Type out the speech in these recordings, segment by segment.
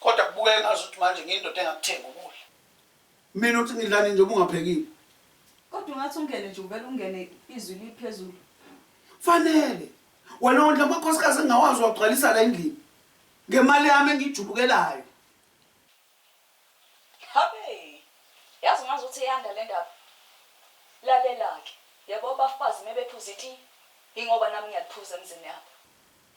Kodwa kubukeka ngazuthi manje ngiyindoda engakuthenga ukudla. Mina uthi ngidlani nje ubungaphekile? Kodwa ungathi ungene nje uvele ungene izwi liphezulu. Fanele. Wena wondla amakhosikazi engingawazi wagcwalisa la endlini. Ngemali yami engiyijubukelayo. Habe! Yazi ngazuthi iyanda lendaba. Lalela-ke, yabo abafazi mebephuza itiye, yingoba nami ngiyaliphuza emzini yabo.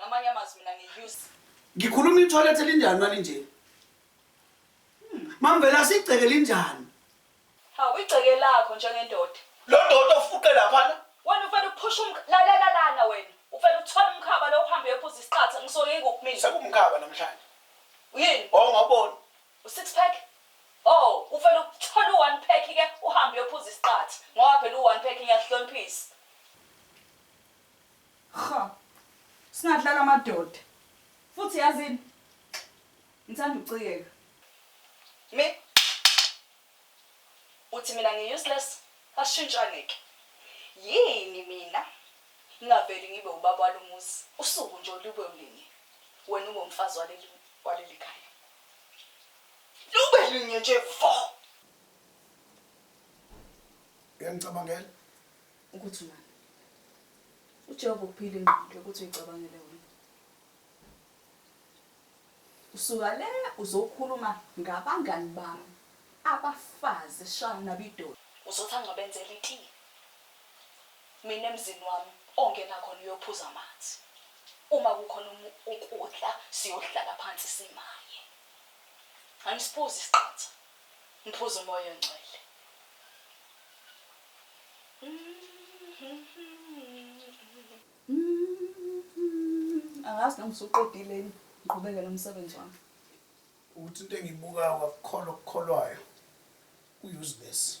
Ngamanye amazwi mina ngiuse. Ngikhuluma ithoilet elinjani malinje? Mamvela sigceke linjani? Hawu igceke lakho njengendoda. Lo ndoda ofuqe laphana. Wena ufela ukuphusha umkha lalela lana wena. Ufela uthola umkhaba lo uhambe uyophuza isiqatha ngisoke ngikuphi mina. Sekumkhaba namhlanje. Yini? Wawungaboni. U six pack? Oh ufela ukuthola u one pack ke uhambe uyophuza isiqathi ngoba phela u one pack ngiyakuhloniphisa. Cha singadlala amadoda futhi yazini ngithanda ukucikeka. Me? Uthi mina ngi useless? Asishintshane ke. Yini mina ngingaveli ngibe ubaba walomuzi usuku nje olube olinye wena ube umfazi waleli walelikhaya. Lube linye nje vo. Uyangicabangela? Ukuthi manje uJehova ukuphila ingqondo yokuthi uyicabangele wena. Usuka le uzokhuluma ngabangani bami abafazi shaya nabidoli. Uzothi angibenzele iti. Mina emzini wami ongena khona uyophuza amanzi. Uma kukhona um, ukudla siyohlala phansi simaye. Angisiphuzi isiqatha. Ngiphuza umoya ongcwele. Angazi noma usuqedile yini ngiqhubeke nomsebenzi wami. Uthi into engibukayo akukholwa okukholwayo uyuzibesi.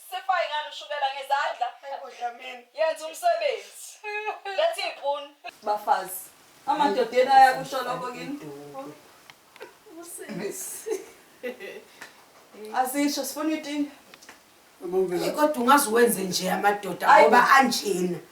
Sifaye ngani ushukela ngezandla. Hayi bo Dlamini. Yenza umsebenzi. Letha iy'puni. Bafazi. Amadoda yena ayakusho lokho kini. Asisho sifuna itinga. Kodwa ungaze uwenze nje amadoda ngoba anjena.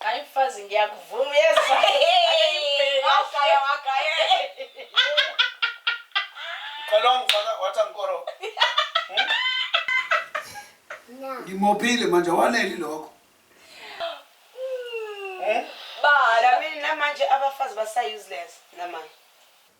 Hayi mfazi ngiyakuvuma uyezwa. Wagaya wagaya. Uqala wangifaka wathi angikoro. Ngimophile manje waneli lokho. Ba, mina manje abafazi basa useless namanje.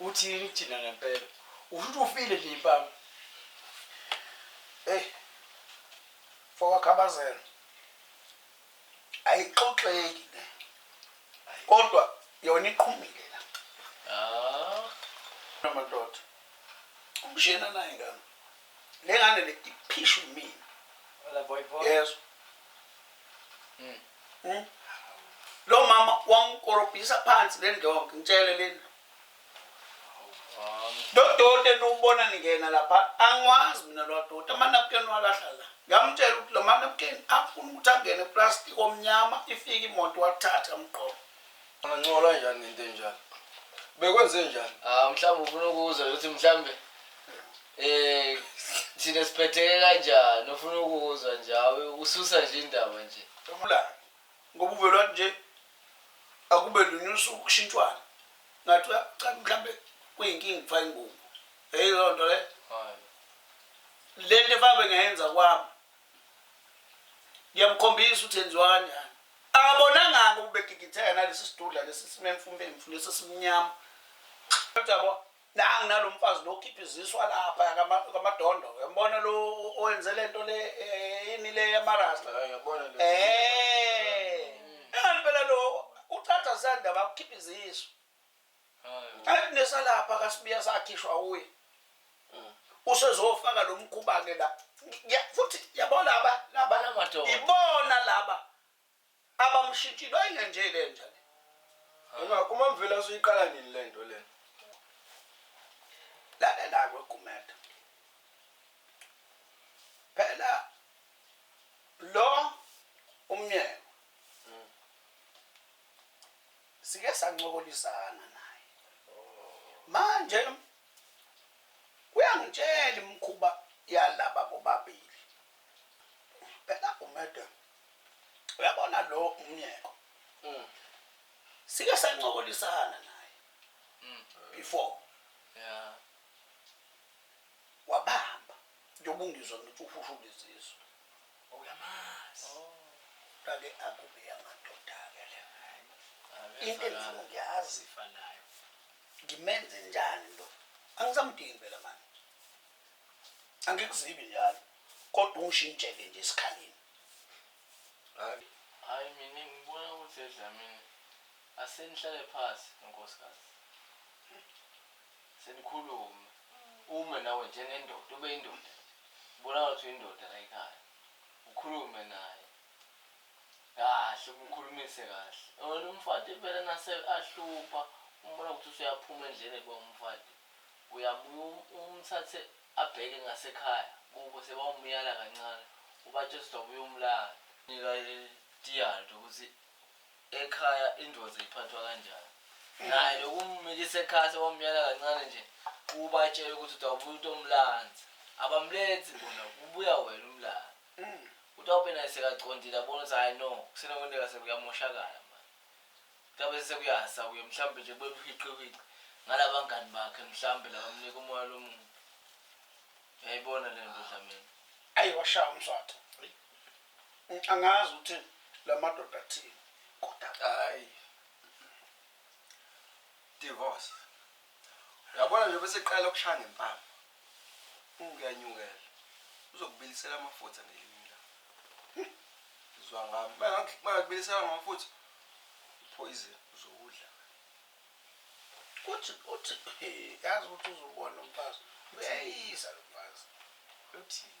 uthini thina ngempela ushuthi ufile nje impama eyi fokakhabazela ayixoxeki le kodwa yona iqhumile la ah. amadoda umshena naye ngami lengane le iphishu mina Wala boy boy. yeso Mm. Mm. lo mama wangikorobhisa phansi le ndonke ngitshele lena Um, dodoti eniwubona ningena lapha angiwazi mina lwadoti amanapukeni walahla la ngamtshela ukuthi lo manapukeni afuna ukuthi angene eplastic omnyama ifike imoto wathatha mqobo Angancola njani ngento enjalo? Bekwenze njani? Ah mhlawumbe ufuna ukuzwa ukuthi mhlawumbe eh thina siphetheke kanjani ufuna ukuzwa njawe ususa nje indaba nje. Ula ngoba uvela nje akube lunye usuku kushintshwana. Ngathi cha mhlambe kuyinkinga kufa ingubo. Hey loo nto le. Hayi. Le nto efabe ngayenza kwami ngiyamkhombisa ukuthi enziwa kanjani akabonanganga ukubegigitheka nalesi sidudla lesi simemfumemfu lesi simnyama kodwa nangu nalo mfazi lo khipha iziswa lapha kamadondo uyambona lo owenze le nto le eh, yini le yamarasta um eh. engalibela lo uchatha sandaba ukhipha iziswa Hayi nesalapha kasibiya sakhishwa uye. Mm. Usezofaka lo mkhuba ke la. Futhi yabona laba laba lamadoda. Ibona laba abamshintshile ayingenje le nja le. Uma uma mvela usuyiqala nini le nto le? Lalela ke kumeta. Phela lo umyeni Sike sancokolisana naye. Manje uyangitshela imkhuba yalaba bobabili. Phela uMede uyabona lo umyeko. Mm. Sike sancokolisana naye. Mm. Before. Yeah. Wabamba. Njengoba ungizwa ngithi uhusha ubizizwe. Uyamazi. Oh. Kake akube yamadoda-ke le. Into engifuna ukuyazi. Ifanayo. Ngimenze njani lo? Angisamdingi phela manje. Angikuzibi njalo. Kodwa ungishintshele nje isikhaleni. Hayi. Hayi mina ngibona ukuthi edlamini. Asenihlale phasi, nkosikazi. senikhulume ume nawe njengendoda ube indoda nje ubonakala ukuthi uyindoda la ekhaya ukhulume naye kahle umkhulumise kahle wena umfati impela nase ahlupha umbona ukuthi usuyaphuma endleleni kuba umfati uyabuya umthathe abheke ngasekhaya kubo sebawumyala kancane ubatshela ukuthi wabuya umlanda nika itiyalo ukuthi ekhaya indoda iphathwa kanjani naye lokumumikisa ekhaya sebamyala kancane nje ubatshele ukuthi utawubuya umuntu omlanzi abamlethi bona kubuya wena umlala utawube naye sekaqondile abona ukuthi hayi no kusenokwenteka sekuyamoshakala manje kutabe sekuyasa kuye mhlawumbe nje kube buhiqihiqi ngala bangani bakhe mhlawumbe labamnika umoya lomuntu uyayibona le nto dlamini ayi washaya umswatho angazi ukuthi lamadoda athini kodwa hayi divorce yabona nje bese qala ukushaya ngempama ungiyanyukela uzokubilisela amafutha ngelinye la zwa ngami makubilisela ngamafutha poison uzowudla uthi uthi yazi ukuthi uzobona umfazi uyayisa lo mfazi uthini